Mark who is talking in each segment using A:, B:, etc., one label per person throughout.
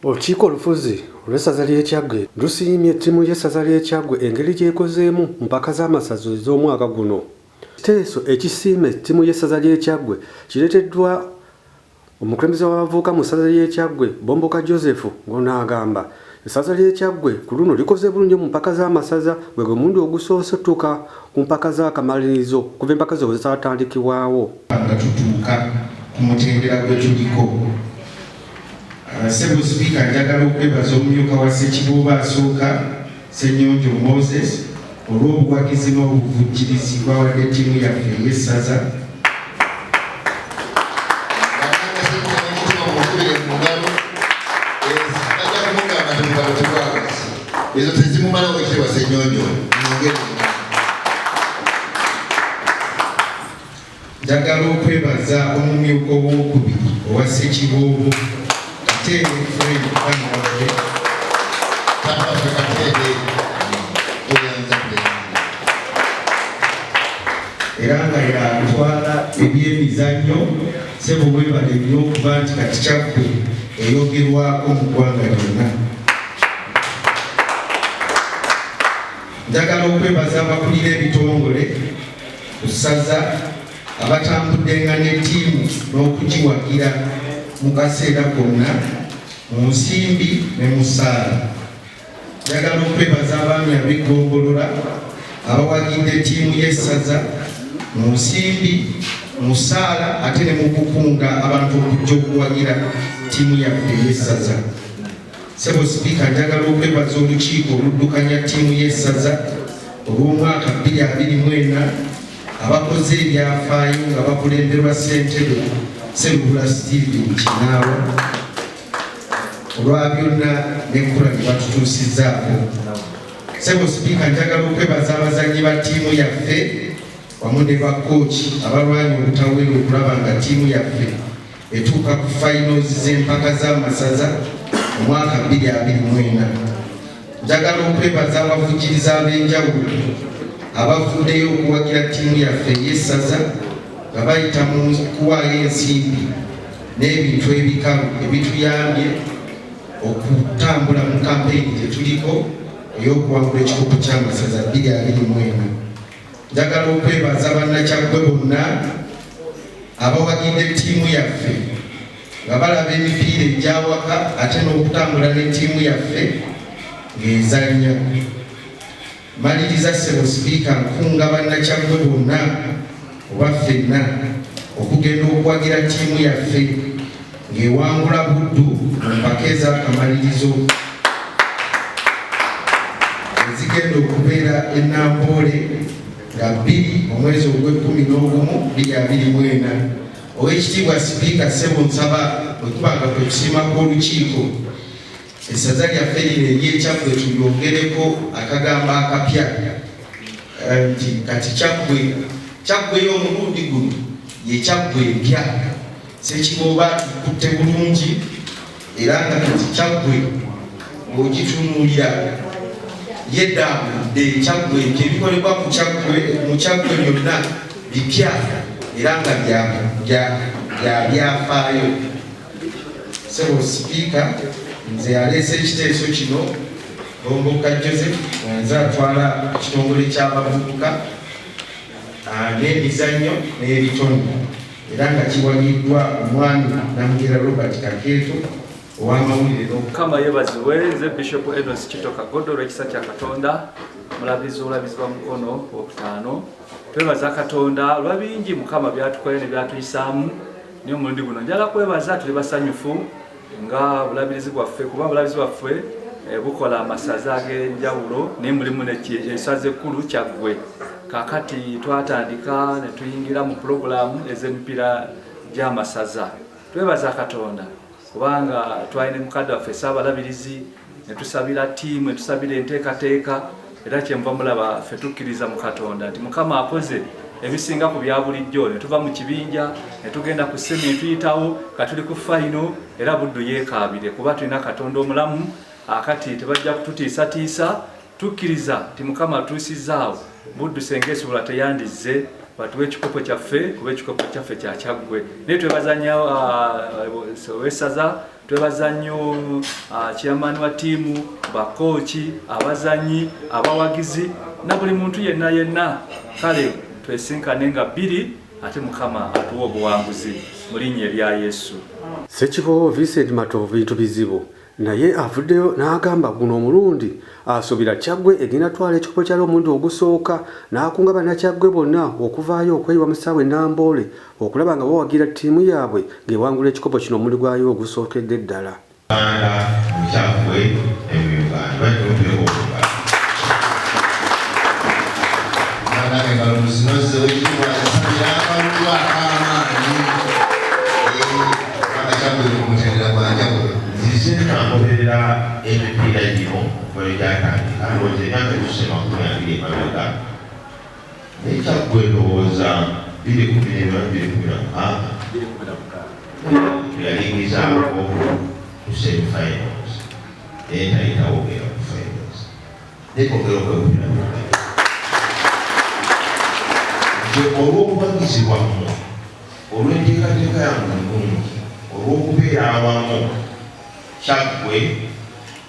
A: Olukiiko olufuzi olw'essaza ly'e Kyaggwe lusiimye ttimu y'essaza ly'e Kyaggwe engeri gy'ekozeemu mu mpaka z'amasaza ez'omwaka guno. Ekiteeso ekisiime ttimu y'essaza ly'e Kyaggwe kireeteddwa omukulembeze w'abavubuka mu ssaza ly'e Kyaggwe Bomboka Joseph ng'ono agamba essaza ly'e Kyaggwe ku luno likoze bulungi mu mpaka z'amasaza gwe gwe mulundi ogusoose okutuuka ku mpaka z'akamalirizo okuva empaka zino bwe zaatandikibwawo. nga tutuuka
B: ku mutendera gwe tuliko. Ssebo Sipiika, njagala okwebaza omumyuka wa Ssekiboobo asooka, Ssenyonjo Moses olw'obuwagizi n'obuvujjirizi bw'awadde ttiimu yaffe ey'essaza.
C: ezo tezimumala wekitebwa Ssenyonjo
B: Njagala okwebaza omumyuka ow'okubiri owa Ssekiboobo Kateebe Fred Kangavve Kangavve Kateebe tweyanzadde era nga yatwala ebyemizannyo sebo webale nnyo okuba nti kati kyaffe eyogerwako mu ggwanga lyonna njagala okwebaza abakulira ebitongole ku ssaza abatambuddenga ne ttiimu n'okugiwagira mu kaseera konna mu nsimbi ne mu ssaala njagala okwebaza abaami ab'eggombolola abawagidde ttiimu y'essaza mu nsimbi mu ssaala ate ne mu kukunga abantu okujja okuwagira ttiimu yaffe ey'essaza Sebo Sipiika njagala okwebaza olukiiko oluddukanya ttiimu y'essaza olw'omwaka 2024 abakoze ebyafaayo nga bakulemberwa ssentebe Sseruhura Steven Kinaawa olwa byonna n'ekkula lye batutuusizzaako. Sebo Sipiika njagala okwebaza abazannyi ba ttiimu yaffe wamu ne bakooki abalwanya obutaweera okulaba nga ttiimu yaffe etuuka ku finals z'empaka z'amasaza omwaka 2024 njagala okwebaza abavujiriza ab'enjawulo abavuddeyo okuwagira ttiimu yaffe ey'essaza nga bayita mu kuwaayo ensimbi n'ebintu ebikalu ebituyambye okutambula mu kampeyini gye tuliko ey'okuwangula ekikopo ky'amasaza 2024 Njagala okwebaza bannakyaggwe bonna abawagidde ttiimu yaffe nga balaba emipiira egyawaka ate n'okutambula ne ttiimu yaffe ng'ezannya. Maliriza ssebo sipiika nkunga bannakyaggwe bonna oba ffenna okugenda okuwagira ttiimu yaffe. ng'ewangula Buddu mu mpaka ez'akamalirizo ezigenda okubeera e Namboole nga bbiri omwezi ogw'ekkumi n'ogumu bbiri abiri mu ena. Oweekitiibwa Sipiika Ssebo nsaba bwe kuba nga kwe kusiima kw'olukiiko essaza lyaffe lino ery'Ekyaggwe tulyongereko akagambo akapya eh, nti kati Kyaggwe Kyaggwe y'omulundi guno ye Kyaggwe empya. Ssekiboobo atukutte bulungi era nga kati kyaggwe ng'ogitunuulira yeddambudde kyaggwe nti ebikolebwa ku kyaggwe mu kyaggwe byonna bipya era nga bya byafaayo. Sebo Sipiika, nze yaleese ekiteeso kino Gomboka Joseph nze atwala ekitongole ky'abavubuka ah, n'emizannyo n'ebitone. era nga kiwagiddwa omwami Namugera Robert Kakeeto ow'amawulire n'okukama yebazibwe
D: nze Bishop Edwards Kito Kagodo olw'ekisa kya Katonda mulabizi obulabizi bwa mukono okutaano twebaza Katonda olwa bingi Mukama byatukoye ne byatuyisaamu naye omulundi guno njala kwebaza tuli basanyufu nga bulabirizi bwaffe kuba bulabirizi bwaffe eh, bukola amasaza ag'enjawulo naye mulimu esaza ekkulu kyaggwe kakati twatandika ne tuyingira mu pulogulaamu ez'emipiira gy'amasaza twebaza katonda kubanga twalina mukadde waffe saabalabirizi ne tusabira ttiimu ne tusabira enteekateeka era kyenva mulaba ffe tukkiriza mu katonda nti mukama akoze ebisinga ku bya bulijjo ne tuva mu kibinja ne tugenda ku semi ne tuyitawo ka tuli ku fayino era buddu yeekaabire kuba tulina katonda omulamu akati tebajja kututiisatiisa tukkiriza nti mukama atuusizaawo buddu senga esibula teyandizze batuwa ekikopo kyaffe kuba ekikopo kyaffe kyakyaggwe naye twebaza nyo uh, wesaza twebaza nnyo uh, chairman wa tiimu bakooki abazanyi abawagizi na buli muntu yenna yenna kale twesinkane nga bbiri ate mukama atuwa obuwanguzi mu linnya erya yesu sekibowo
A: vincent matovu bintu bizibu naye avuddeyo n'agamba guno omulundi asuubira kyaggwe egenda twala ekikopo kyali omulundi ogusooka n'akunga bannakyaggwe bonna okuvaayo okweyiwa mu ssaawa enamboole okulaba nga bawagira ttiimu yaabwe ng'ewangula ekikopo kino omuli gwayo ogusookedde ddala.
C: Naye kyaggwe ndowooza biri kumi n'ebyo biri kumi na mukaaga yalingizaako ku semi finals naye tayitawo ogera ku finals naye kongera okwekubira nze olw'obubagizi bwammwe olw'enteekateeka yammwe ennungi olw'okubeera awamu kyaggwe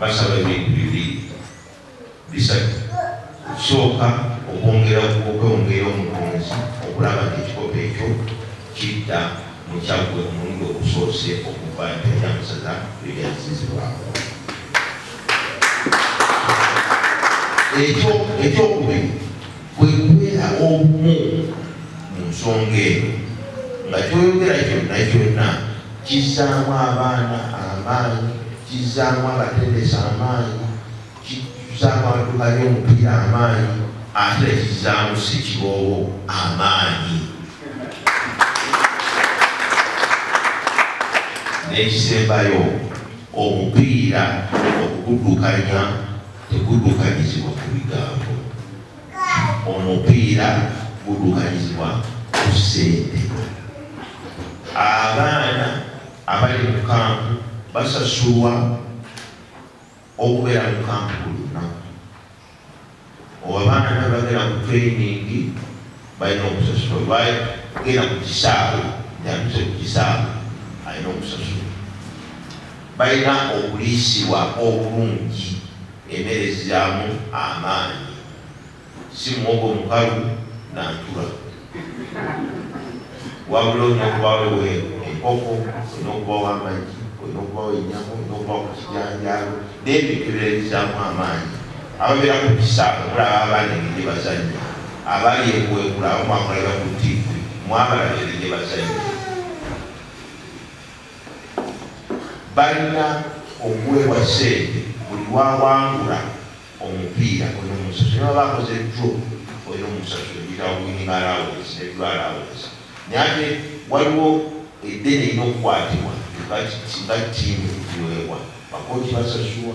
C: Basaba ebintu bibiri bisatu, okusooka okwongera okweongera omutonzi okulaba nti ekikopo ekyo kidda mu kyaggwe omulundi ogusoose okuva empya ya Museza lwe yazzizibwako. Ekyokubiri kwe kubeera obumu mu nsonga eno nga kyoyogera kyonna kyonna kizzaamu abaana amaanyi, kizzaamu abatendesi amaanyi, kizzaamu abaduka by'omupiira amaanyi ate kizzaamu ssekiboobo amaanyi. n'ekisembayo omupiira okuguddukanya Teguddukanyizibwa ku bigambo. Omupiira guddukanyizibwa ku ssente. Abaana abali mu kkampu basasulwa okubeera mu kkampu buli lunaku. Oba abaana abagenda mu tuleyiningi. Balina okusasula olwaye genda ku kisaawe yatuse ku kisaawe alina okusasula. Balina okuliisibwa obulungi emere eziramu amaanyi si muwogo mukalu na ntula wabula olina okubawo enkoko, olina okubawo amagi, olina okubawo enyama, olina okubawo ku kijanjaalo n'ebintu ebirala ebizaamu amaanyi. Ababeera ku kisaawe mulaba abaana engeri gye bazannya, abali e Buweekula abo muba mulabira ku ttivvi, mwabalaba engeri gye bazannya. Balina okuweebwa ssente buli lw'awangula omupiira olina omusasula, ne bw'aba akoze draw olina omusasula, ekiyitibwa winning allowance ne draw allowance. Naye ate waliwo eddene erina okukwatibwa nga ttiimu egiweebwa, bakooci basasulwa.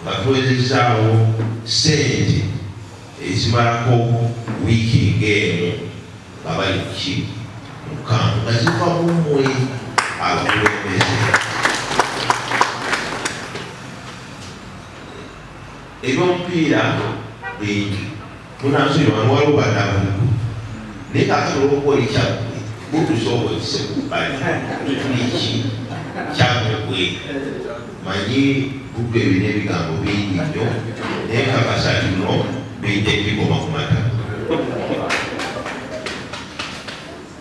C: nga tuwezezzaawo ssente ezimalako wiiki ng'emu nga bali ku ki mu kkampu nga ziva mu mmwe abakulembeze. Eby'omupiira bingi. Munansi wano waliwo banabuliku naye kakati olwokuba oli kyaggwe butusa obwekise kubbali tuliki kyaggwe gwe manyi buddu ebina ebigambo bingi nnyo naye kakasa kino bidde bikoma ku mata